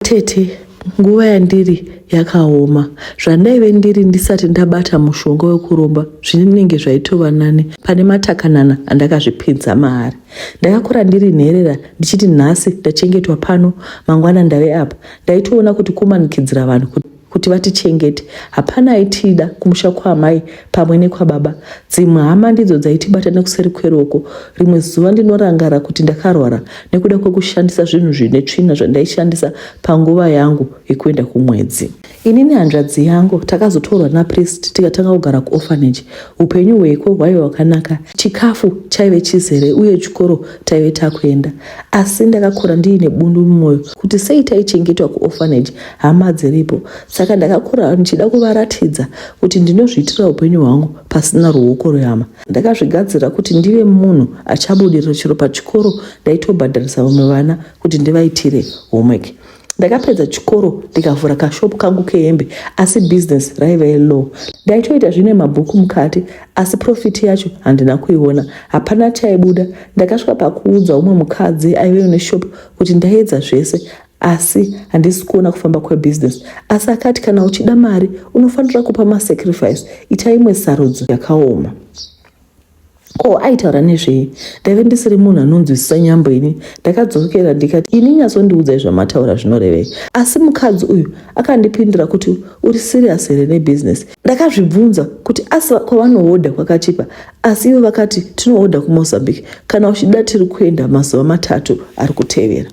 Tete, nguva yandiri yakaoma zvandaive ndiri ndisati ndabata mushonga wekuromba zvinenge zvaitova nani pane matakanana andakazvipinza maari ndakakura ndiri nherera ndichiti nhasi ndachengetwa pano mangwana ndave apa ndaitoona kuti kumanikidzira vanhu kuti kuti vatichengete hapana aitida kumusha kwaamai pamwe nekwababa dzimwe hama ndidzo dzaitibata nekuseri kweroko rimwe zuva ndinorangara kuti ndakarwara nekuda kwekushandisa zvinhu zvine tsvina zvandaishandisa panguva yangu yekuenda kumwedzi ini nehanzvadzi yangu takazotorwa napriest tikatanga kugara kuorphanage upenyu hweko hwaive hwakanaka chikafu chaive chizere uye chikoro taive takuenda asi ndakakura ndiine bundu mumwoyo kuti sei taichengetwa kuorphanage hama dziripo saka ndakakura ndichida kuvaratidza kuti ndinozviitira upenyu hwangu pasina ruoko rwehama ndakazvigadzira kuti ndive munhu achabudirira chero pachikoro ndaitobhadharisa vamwe vana kuti ndivaitire homework ndakapedza chikoro ndikavhura kashopu kangu kehembe asi bhizinesi raive low ndaitoita zvine mabhuku mukati asi profiti yacho handina kuiona hapana chaibuda ndakasvika pakuudza umwe mukadzi aive une shopu kuti ndaiedza zvese asi handisi kuona kufamba kwebusiness asi akati kana uchida mari unofanira kupa masacrifice ita imwe sarudzo yakaoma ko aitaura nezvei ndaive ndisiri munhu anonzwisisa nyambo ini ndakadzokera ndikati ini nyasondiudzai zvamataura zvinorevei asi mukadzi uyu akandipindura kuti uri sirias here nebusiness ndakazvibvunza kuti asi kwavanohodha kwakachipa asi ivo vakati tinohodha kumozambique kana uchida tiri kuenda mazuva matatu ari kutevera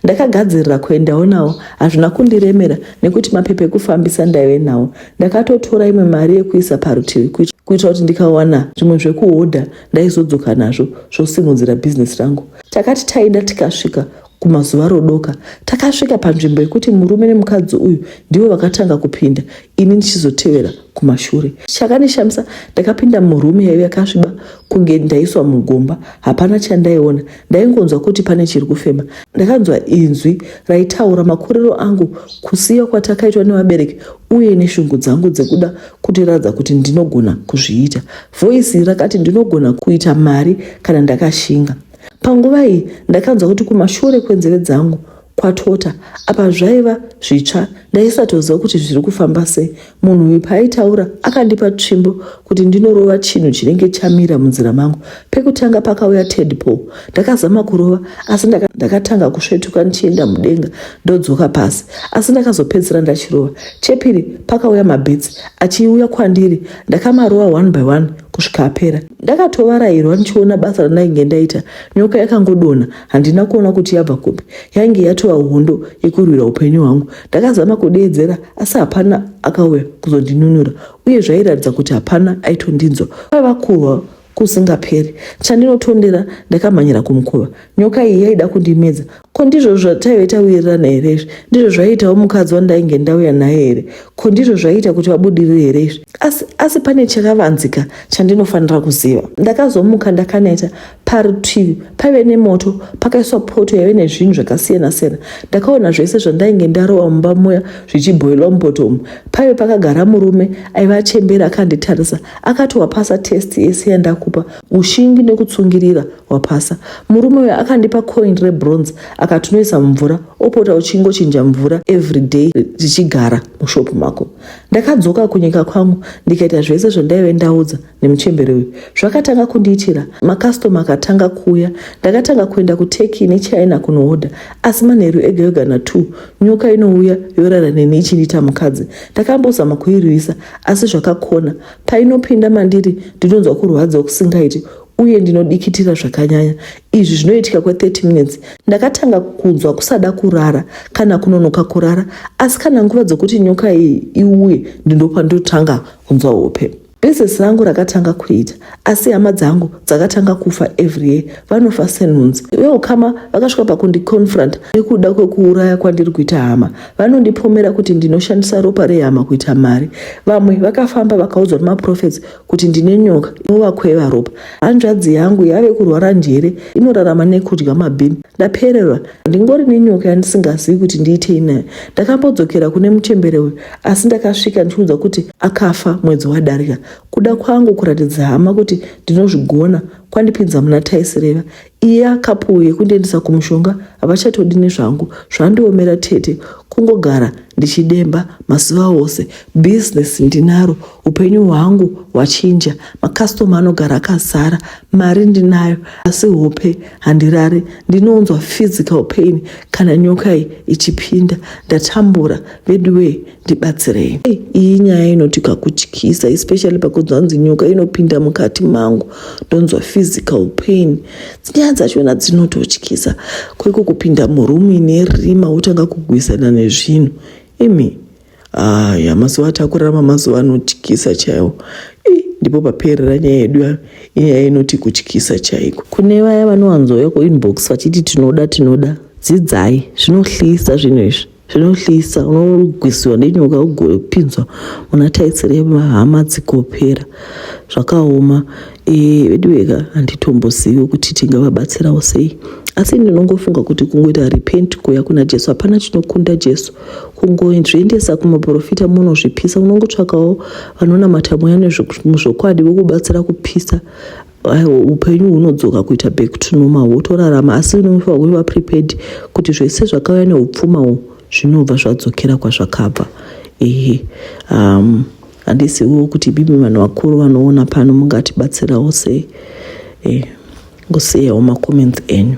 ndakagadzirira kuendawo nawo hazvina kundiremera nekuti mapepa ekufambisa ndaive nawo ndakatotora imwe mari yekuisa parutivi kuitira kuti ndikawana zvimwe zvekuhodha ndaizodzoka nazvo zvosimudzira bhizinesi rangu takati taida tikasvika Kumazuva rodoka takasvika panzvimbo yekuti murume nemukadzi uyu ndivo vakatanga kupinda ini ndichizotevera kumashure. Chakandishamisa ndakapinda murume yaive yakasviba kunge ndaiswa mugomba. Hapana chandaiona ndaingonzwa kuti pane chiri kufema. Ndakanzwa inzwi raitaura makuriro angu, kusiya kwatakaitwa nevabereki uye neshungu dzangu dzekuda kutiradza kuti ndinogona kuzviita. Voice rakati ndinogona kuita mari kana ndakashinga. Panguva iyi ndakanzwa kuti kumashure kwenzeve dzangu kwatota apa zvaiva zvitsva ndaisatoziva kuti zviri kufamba sei munhu uyu paaitaura akandipa tsvimbo kuti ndinorova chinhu chinenge chamira munzira mangu pekutanga pakauya tedpol ndakazama kurova asi ndakatanga kusvetuka ndichienda mudenga ndodzoka pasi asi ndakazopedzisira ndachirova chepiri pakauya mabhitsi achiuya kwandiri ndakamarova one by one kusvika apera ndakatovarairwa ndichiona basa randainge ndaita nyoka yakangodonha handina kuona kuti yabva kupi yainge yatova hondo yekurwira upenyu hwangu ndakazama kudeedzera asi hapana akauya kuzondinunura uye zvairatidza kuti hapana aitondinzwa kwaiva kurwa kusingaperi chandinotondera ndakamhanyira kumukova nyoka iyi yaida kundimedza Ko ndizvo zvataive tawirirana here izvi? Ndizvo zvaiitawo mukadzi wandainge ndauya naye here? Ko ndizvo zvaiita kuti vabudirire here izvi? Asi, asi pane chakavanzika chandinofanira kuziva. Ndakazomuka ndakaneta. Parutivi paive nemoto pakaiswa poto yaive nezvinhu zvakasiyana siyana. Ndakaona zvese zvandainge ndarova mumba muya zvichibhoilwa mupoto umu. Paive pakagara murume aive achembera akanditarisa akati wapasa test yese yandakupa ushingi nekutsungirira wapasa murume uyo akandipa coin rebronze akati unoisa mumvura opota uchingochinja mvura everyday zvichigara mushopu mako ndakadzoka kunyika kwangu ndikaita zvese zvandaive ndaudza nemuchembere uyu zvakatanga kundiitira makastoma akatanga kuuya ndakatanga kuenda kuturkey nechina kunooda asi manheru ega yoga natwo nyoka inouya yorara neni ichindiita mukadzi ndakambozama kuirwisa asi zvakakona painopinda mandiri ndinonzwa kurwadziwa kusingaiti uye ndinodikitira zvakanyanya izvi zvinoitika kwe30 minutes ndakatanga kunzwa kusada kurara kana kunonoka kurara asi kana nguva dzokuti nyoka iyi iuye ndinopa ndotanga kunzwa hope bhizesi rangu rakatanga kuita asi hama dzangu dzakatanga kufa every year vanofa senhunzi veukama vakasvika pakundiconfront nekuda kwekuuraya kwandiri kuita hama vanondipomera kuti ndinoshandisa ropa rehama kuita mari vamwe vakafamba vakaudzwa nemaprofets kuti ndine nyoka inovakweva ropa hanzvadzi yangu yave kurwara njere inorarama nekudya mabhini ndapererwa ndingori nenyoka yandisingazivi kuti ndiitei nayo ndakambodzokera kune muchembere uyu asi ndakasvika ndichiudza kuti akafa mwedzi wadarika kuda kwangu kuratidza hama kuti ndinozvigona kwandipinza muna taisireva Iya kapu yekundiendesa kumushonga havachatodi nezvangu zvandiomera tete kungogara ndichidemba mazuva ose business ndinaro upenyu hwangu hwachinja makastoma anogara akazara mari ndinayo asi hope handirare ndinounzwa physical pain kana nyoka iyi ichipinda ndatambura veduwee ndibatsirei hey, iyi nyaya inoti kakutyisa especially pakunzi hanzi nyoka inopinda mukati mangu ndonzwa physical pain nyaya dzachona dzinototyisa kweko kupinda murumu ine rima wotanga kugwisana nezvinhu imi aya mazuva atakurarama mazuva anotyisa chaiwo ndipo paperera nyaya yedu yayo inyaya inoti kutyisa chaiko kune vaya vanowanzouya kuinbox vachiti tinoda tinoda dzidzai zvinohlisa zvinhu izvi zvinohlisa unogwisiwa nenyoka ugopinzwa muna taisire mahama dzikopera zvakaoma e, veduweka handitombozivi kuti tingavabatsirawo sei asi ndinongofunga kuti kungoita repent kuya kuna jesu hapana chinokunda jesu kungozviendesa kumaprofita munozvipisa unongotsvakawo vanonamata mweya nezvokwadi vokubatsira kupisa upenyu hunodzoka kuita back to normal wotorarama asi unofanira kuti vaprepared kuti zvese zvakauya neupfuma uhu zvinobva zvadzokera kwazvakabva ehe um, handisiwo kuti bibi vanhu vakuru vanoona pano mungatibatsirawo sei eh, ngosiyawo macomments enyu